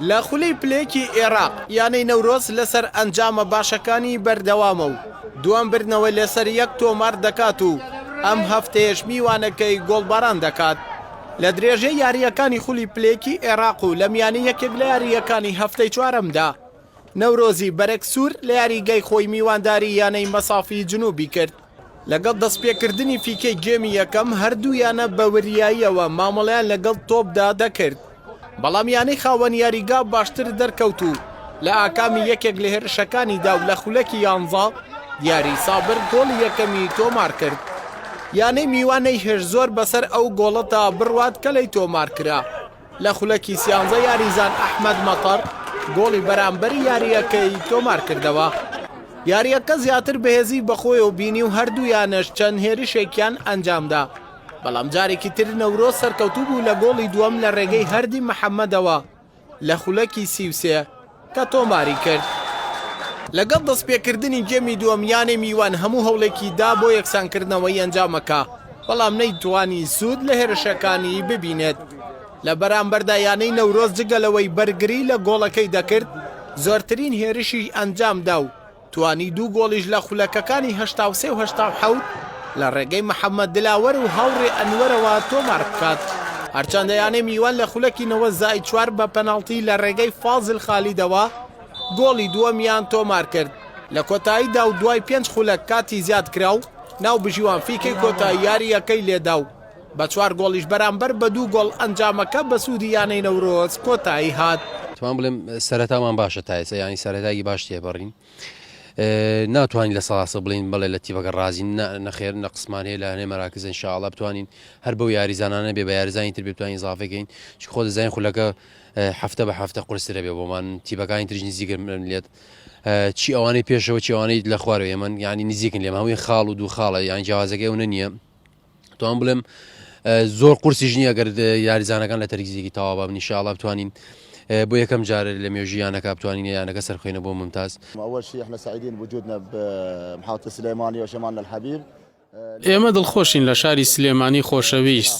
لە خولەی پلەیەکی ئێراق، یانەی نەورۆز لەسەر ئەنجامە باشەکانی بەردەوامە و دووەم بردنەوە لەسەر یەک تۆمار دەکات و ئەم هەفتەیەش میوانەکەی گۆڵباران دەکات. لە درێژەی یارییەکانی خولی پلەیەکی ئێراق و لە میانی یەکێک لە یارییەکانی هەفتەی چوارەمدا، نەورۆزی بەرەک سوور لە یاریگای خۆی میوانداری یانەی مەسافی جنوبی کرد. لەگەڵ دەستپێکردنی فیکەی گێمی یەکەم، هەردوو یانە بە وریاییەوە مامەڵەیان لەگەڵ تۆپدا دەکرد، بەڵام یانەی خاوەن یاریگا باشتر دەرکەوت و لە ئاکامی یەکێک لە هێرشەکانیدا و لە خولەکی یانزە دیاری سابر گۆڵی یەکەمی تۆمارکرد. یانەی میوان نەیهێشت زۆر بەسەر ئەو گۆڵەدا بڕوات کە لێی تۆمارکرا، لە خولەکی سیانزە یاریزان ئەحمەد مەتەر گۆڵی بەرامبەری یارییەکەی تۆمارکردەوە. یارییەکە زیاتر بەهێزی بەخۆیەوە بینی و هەردوو یانەش چەند هێرشێکیان ئەنجامدا، بەڵام جارێکی تر نەورۆز سەرکەوتوو بوو لە گۆڵی دووەم لە رێگەی هەردی محەمەدەوە لە خولەکی سی و سێ. کە تۆماری کرد لەگەڵ دەستپێکردنی گێمی دووەم یانەی میوان هەموو هەوڵێکی دا بۆ یەکسانکردنەوەی ئەنجامەکە، بەڵام نەیتوانی سوود لە هێرشەکانی ببینێت، لە بەرامبەردا یانەی نەورۆز جگە لەوەی بەرگری لە گۆڵەکەی دەکرد، زۆرترین هێرشی ئەنجامدا و توانی دوو گۆڵیش لە خولەکەکانی هەشتا و سێ و هەشتا و حەوت لە ڕێگەی محەممەد دلاوەر و هاوڕێ ئەنوەرەوە تۆمار بکات، هەرچەندە یانەی میوان لە خولەکی نەوەد زائید چوار بە پەناڵتی لە ڕێگەی فازل خالیدەوە گۆڵی دووەمیان تۆمار کرد لە کۆتاییدا و دوای پێنج خولەک کاتی زیادکراو ناوبژیوان فیکەی کۆتایی یارییەکەی لێدا و بە چوار گۆڵیش بەرامبەر بە دوو گۆڵ ئەنجامەکە بە سوودی یانەی نەورۆز کۆتایی هات. تمان بڵێم سەرەتامان باشە تا ئێستا یانی سەرەتاگی باش تێپەڕین ناتوانین لە سەڵاسە بڵین بڵێ لە تیبەکە ڕازین نەخێر نە قسمان هەیە لە هەنێ مەراکزن شاڵە بتوانین هەر بەو یاریزانانە بێ بە یاریزانی تر بتوانین زافەکەین چ خۆ دەزانین خولەکە هەفتە بە هەفتە قرسرە بێ بۆمان تیبەکانی ترژ نزیکر من لێت چی ئەوانەی پێشەوە چیوانەی لە خوارەوە ئێمەن ینی نزیکن لێم هەمووی خاڵ و دوو خاڵە یان جیازەکە ئەوە نییە توان بڵێم زۆر قورسی ژنی ئەگەر یاریزانەکان لە تەرگزیێکی تاوا بابنی شاڵا بتوانین بۆ یەکەم جارە لە مێژیانەکە بتوانین یانەکە سەرخێنە بۆ ممتاز ئەوەشی احنا سعیدین وجودنا محوتە سلێمانی و شەمان الحەبیب ئێمە دڵخۆشین لە شاری سلێمانی خۆشەویست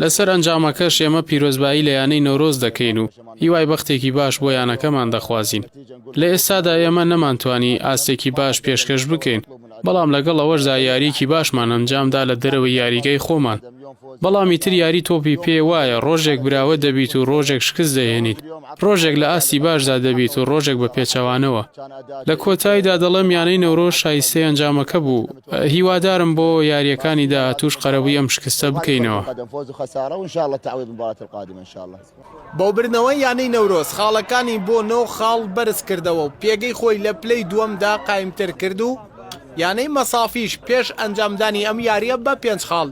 لەسەر ئەنجامەکەش ئێمە پیرۆزبایی لە یانەی نەورۆز دەکەین و هیوای بەختێکی باش بۆ یانەکەمان دەخوازین لە ئێستادا ئێمە نەمانتوانی ئاستێکی باش پێشکەش بکەین بەڵام لەگەڵ ئەوەشدا یاریەکی باشمان ئەنجام دا لە دەرەوەی یاریگای خۆمان، بەڵام ئیتر یاری تۆپی پێ وایە ڕۆژێک براوە دەبیت و ڕۆژێک شکست دەهێنیت، ڕۆژێک لە ئاستی باشدا دەبیت و ڕۆژێک بە پێچەوانەوە. لە کۆتایدا دەڵێم یانەی نەورۆز شایستەی ئەنجامەکە بوو، هیوادارم بۆ یاریەکانی داهاتووش قەرەبووی ئەم شکستە بکەینەوە. بۆ بردنەوەی یانەی نەورۆز خاڵەکانی بۆ نۆ خاڵ بەرزکردەوە و پێگەی خۆی لە پلەی دووەمدا قایمتر کرد و یانەی مەسافیش پێش ئەنجامدانی ئەم یارییە بە پێنج خاڵ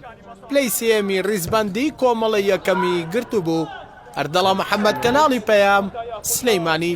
پلەی سێیەمی ریزبەندیی کۆمەڵەی یەکەمی گرتبوو. ئەردەڵا محەمەد، کەناڵی پەیام، سلێمانی.